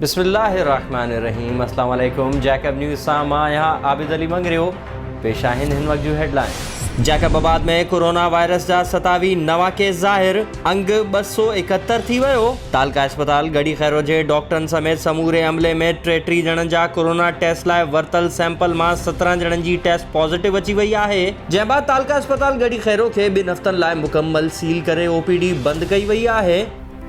بسم الله الرحمن الرحيم السلام عليڪم جيڪب نيوز سان مان آهيان عابد علي مڱريو پيش آهن هن وقت جون headline Jacobabad ۾ corona virus جا ستاوي نوان ڪيس ظاهر انگ ٻه سؤ ايڪهتر ٿي ويو تعلقه اسپتال ڳڙهي خيرو جي ڊاڪٽرن سميت سموري عملي ۾ ٽيٽيهه ڄڻن جا ڪورونا ٽيسٽ لاء ورتل سيمپل مان سترهن ڄڻن جي ٽيسٽ پازيٽو اچي وئي آهي جنهن بعد تعلقه اسپتال ڳڙهي خيرو کي ٻن هفتن لاء مڪمل سيل ڪري او پي ڊي بند ڪئي وئي آهي.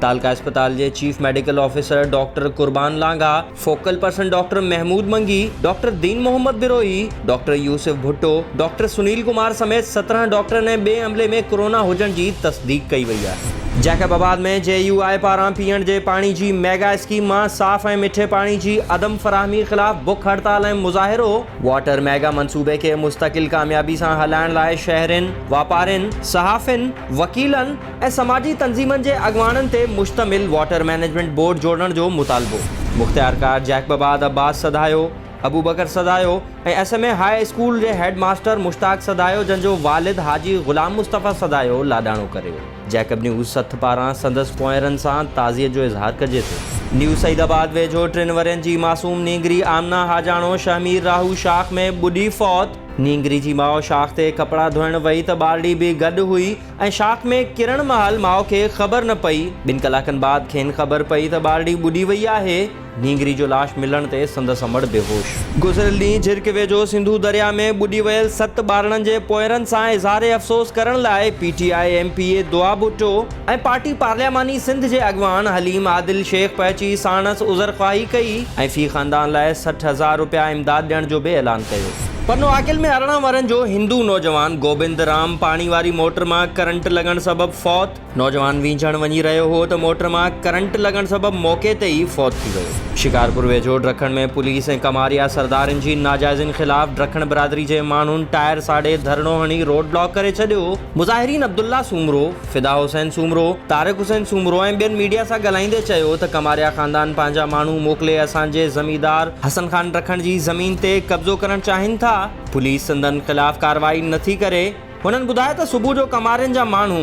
تعلقه اسپتال جي chief medical officer doctor Qurban Langah, focal person doctor Mehmood Mangi, doctor Din Muhammad Brohi, doctor Yousuf Bhutto, doctor Sunil Kumar سميت سترهن ڊاڪٽرن ۽ ٻئي عملي ۾ ڪورونا هجڻ جي تصديق ڪئي وئي آهي. جيڪب آباد ۾ جي يو آء پاران پيئڻ جي پاڻي جي ميگا اسڪيم مان صاف ۽ مٺي پاڻي جي عدم فراهمي خلاف بک هڙتال ۽ مظاهرو. واٽر ميگا منصوبي کي مستقل ڪاميابي سان هلائڻ لاء شهرين، واپارين، صحافين، وڪيلن ۽ سماجي تنظيمن جي اڳواڻن تي مشتمل واٽر مئنيجمينٽ بورڊ جوڙڻ جو مطالبو. مختيارڪار Jacobabad Abbas Sudhayo, Abubakar Sudhayo ۽ S M A high school head هيڊ ماستر مشتاق سڌايو جن جو والد حاجي غلام مصطفيٰ سڌايو لاڏاڻو ڪريو. جيڪب نيوز سٿ پاران سندس پونئيرن سان تعزيت جو اظهار ڪجي ٿو. نيو سعيد آباد ويجهو ٽن ورهين جي معصوم نينگري آمنه حاجاڻو شهمير راهو شاخ ۾ ٻڏي فوت، نينگري جي ماء شاخ تي ڪپڙا ڌوئڻ وئي ته ٻارڙي به گڏ هئي ۽ شاخ ۾ ڪرڻ مهل ماء کي خبر نه پئي، ٻن ڪلاڪن بعد کين خبر پئي ته ٻارڙي ٻڏي وئي آهي. نينگري جو لاش ملڻ تي سندس امڙ بيهوش. گذريل ڏينهن جھرڪ ويجھو سنڌو درياء ۾ ٻڏي ويل ست ٻارڙن جي پوئرن سان اظهار افسوس ڪرڻ لاء P T I M P A Dua Bhutto ۽ party پارلياماني سنڌ جي اڳواڻ حليم عادل شيخ پهچي ساڻس عذرخواهي ڪئي ۽ في خاندان لاء سٺ هزار رپيا امداد ڏيڻ جو به اعلان ڪيو. پنو عاقل ۾ ارڙهن ورهين جو هندو نوجوان گوبند رام پاڻي واري موٽر مان ڪرنٽ لڳڻ سبب فوت، نوجوان وينجهڻ وڃي رهيو هو ته موٽر مان ڪرنٽ لڳڻ سبب موقعي تي ئي فوت ٿي ويو. شڪارپور ويجهو ڊرکڻ ۾ پوليس ۽ ڪماريا سردارين جي ناجائزين خلاف ڊرکڻ برادري جي ماڻهن ٽائر ساڙي ڌرڻو هڻي روڊ بلاڪ ڪري ڇڏيو. مظاهرين عبدالله سومرو، فدا حسين سومرو، طارق حسين سومرو ۽ ٻين ميڊيا سان ڳالهائيندي چيو ته ڪماريا خاندان پنهنجا ماڻهو موڪلي اسان جي زميندار حسن خان ڊرکڻ جي زمين تي قبضو ڪرڻ چاهين ٿا، پوليس سندن خلاف ڪارروائي نٿي ڪري. هنن ٻڌايو ته صبح جو ڪمارين جا ماڻهو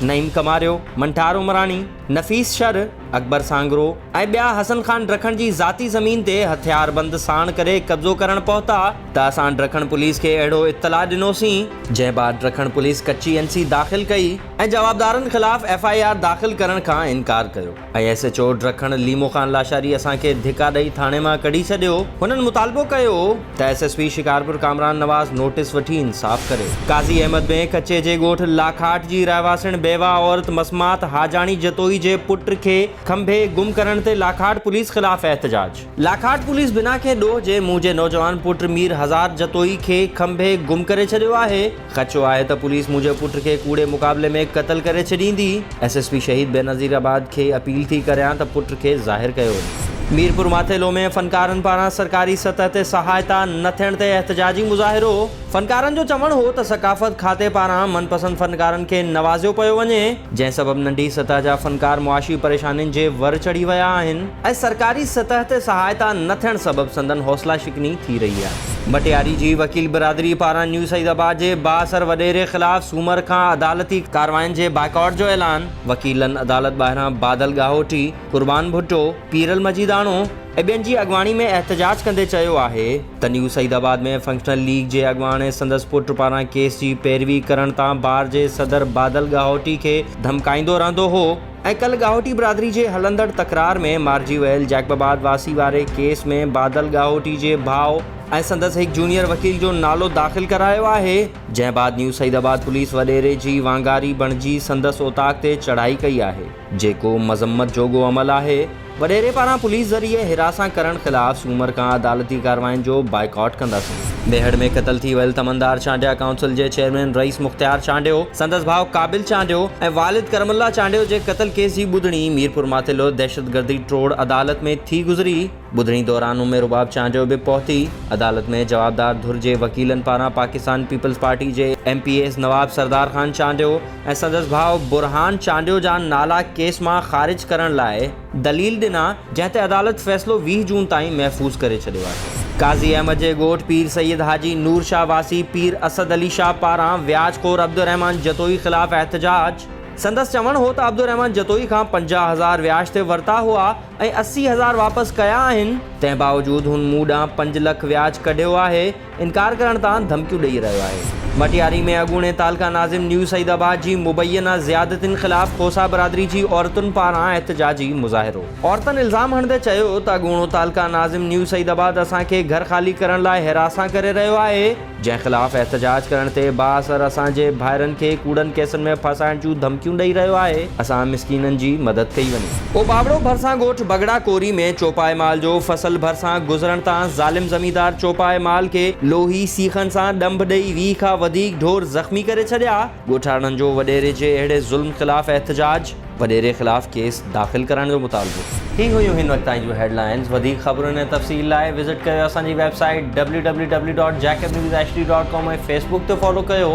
نعيم ڪماريو، منٺار عمراڻي، نفيس شر، اڪبر سانگرو ۽ ٻيا حسن خان ڊکڻ جي ذاتي زمين تي هٿياربند ساڻ ڪري قبضو ڪرڻ پهتا ته اسان ڊکڻ پوليس کي اهڙو اطلاع ڏنوسين جنهن بعد ڊکڻ پوليس ڪچي اين سي داخل ڪئي ۽ جوابدارن خلاف ايف آء آر داخل ڪرڻ کان انڪار ڪيو. A S H O Dakhan Lemo Khan Lashari اسان کي ڌڪا ڏئي ٿاڻي مان ڪڍي ڇڏيو، هنن مطالبو ڪيو ته S S P Shikarpur Kamran Nawaz notice وٺي انصاف ڪري. قاضي احمد بين ڪچي جي ڳوٺ لاکاٽ جي رهواسڻ بيواهه عورت مسمات حاجاڻي جتوئي جي پٽ کي کنڀي گم ڪرڻ تي لاکاٽ پوليس خلاف احتجاج. لاکاٽ پوليس بنا ڪنهن ڏوهه جي منهنجي نوجوان پٽ مير هزار جتوئي کي کنڀي گم ڪري ڇڏيو آهي، خدشو آهي ته پوليس منهنجي پٽ کي ڪوڙي مقابلي ۾ قتل ڪري ڇڏيندي، S S P Shaheed Benazir آباد کي اپيل ٿي ڪريان ته پٽ کي ظاهر ڪيو وڃي. ميرپور ماٿيلو ۾ فنڪارن پاران سرڪاري سطح تي سهائتا نه ٿيڻ تي احتجاجي مظاهرو، فنڪارن جو چوڻ هو ته ثقافت کاتي پاران من پسند فنڪارن کي نوازيو پيو وڃي، جنهن سبب ننڍي سطح جا فنڪار معاشي پريشانين جي ور چڙهي ويا آهن. ۽ سرڪاري سطح تي سهائتا نه ٿيڻ سبب سندن حوصلا شڪني ٿي رهي آهي. ڀٽياري جي وڪيل برادري پاران نيو سعيد آباد جي بااثر وڏيري خلاف سومر کان عدالتي ڪاررواين جي بائيڪاٽ جو اعلان، وڪيلن عدالت ٻاهران بادل ڳاهوٽي، قربان ڀٽو، پيرل مجيداڻو ۽ ٻين جي اڳواڻي ۾ احتجاج ڪندي چيو آهي ته new Saeedabad ۾ functional league جي اڳواڻ ۽ سندس پٽ پاران ڪيس جي پيروي ڪرڻ تان بار جي صدر بادل ڳاهوٽي کي ڌمڪائيندو رهندو هو. ۽ ڪلهه ڳاهوٽي برادري جي هلندڙ تڪرار ۾ مارجي ويل جيڪب آباد واسي واري ڪيس ۾ بادل ڳاهوٽي جي ڀاء ۽ سندس هڪ جونيئر وڪيل جو نالو داخل ڪرايو آهي، جنهن بعد نيو سعيد آباد پوليس وڏيري جي وانگاري بڻجي سندس اوطاق تي چڙهائي ڪئي آهي، جيڪو مذمت جوڳو عمل آهي. وڏيري پاران پوليس ذريعي حراسان ڪرڻ خلاف سومر کان عدالتي ڪارروائين جو بائيڪاٽ ڪنداسين. ميهڙ ۾ قتل ٿي ويل تمندار چانڊيا ڪائونسل جي چيئرمين رئيس مختيار چانڊيو، سندس ڀاء قابل چانڊيو ۽ والد ڪرم الله چانڊيو جي قتل ڪيس جي ٻڌڻي ميرپورماٿيلو دهشتگردي ٽوڙ عدالت ۾ ٿي گذري، ٻڌڻي دوران ام رباب چانڊيو به پهتي، عدالت ۾ جوابدار ڌر جي وڪيلن پاران پاڪستان پيپلز پارٽي جي M P S Nawab Sardar Khan Chandio, ۽ سندس ڀاء برهان چانڊيو جا نالا ڪيس مان خارج ڪرڻ لاء دليل ڏنا جنهن تي عدالت فيصلو ويهه جون تائين محفوظ ڪري ڇڏيو آهي. قاضي احمد جي ڳوٺ پير سيد حاجي نور شاهه واسي پير اسد علي شاهه پاران وياج خور عبدالرحمان جتوئي خلاف احتجاج، سندس چوڻ هو ته عبدالرحمان جتوئي کان پنجاهه هزار وياج تي ورتا هئا ۽ اسي هزار واپس ڪيا آهن، تنهن باوجود هن مون ڏانهن پنج لک وياج ڪڍيو آهي، انڪار ڪرڻ تان ڌمڪيون ڏئي رهيو آهي. مٽياري ۾ اڳوڻي تعلقه ناظم نيو سعيد آباد جي مبينا زيادتين خلاف کوسا برادري جي عورتن پاران احتجاجي مظاهرو. عورتن الزام هڻندي چيو ته اڳوڻو تعلقه ناظم نيو سعيد آباد اسان کي گهر خالي ڪرڻ لاء هراسان ڪري رهيو آهي، جنهن خلاف احتجاج ڪرڻ تي بااثر اسان جي ڀائرن کي ڪوڙن ڪيسن ۾ ڦاسائڻ جون ڌمڪيون ڏئي رهيو آهي، اسان مسڪينن جي مدد ڪئي وڃي. او ٻاوڙو ڀرسان ڳوٺ بگهڙا ڪوري ۾ چوپائي مال جو فصل ڀرسان گذرڻ تان ظالم زميندار چوپائي مال کي لوهي سيخن سان ڏنڀ ڏئي ويهه کان وڌيڪ ڍور زخمي ڪري ڇڏيا، ڳوٺاڻن جو وڏيري جي اهڙي ظلم خلاف احتجاج، وڏيري خلاف ڪيس داخل ڪرڻ جو مطالبو. هي هيون هن وقت تائين جون هيڊلائنز، وڌيڪ خبرن ۽ تفصيل لاء وزٽ ڪريو اسان جي web site W W W dot Jacob news H D dot com ۽ facebook تي فالو ڪيو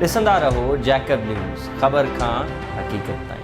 ڏسندا رهو جيڪب نيوز خبر کان حقيقت تائين.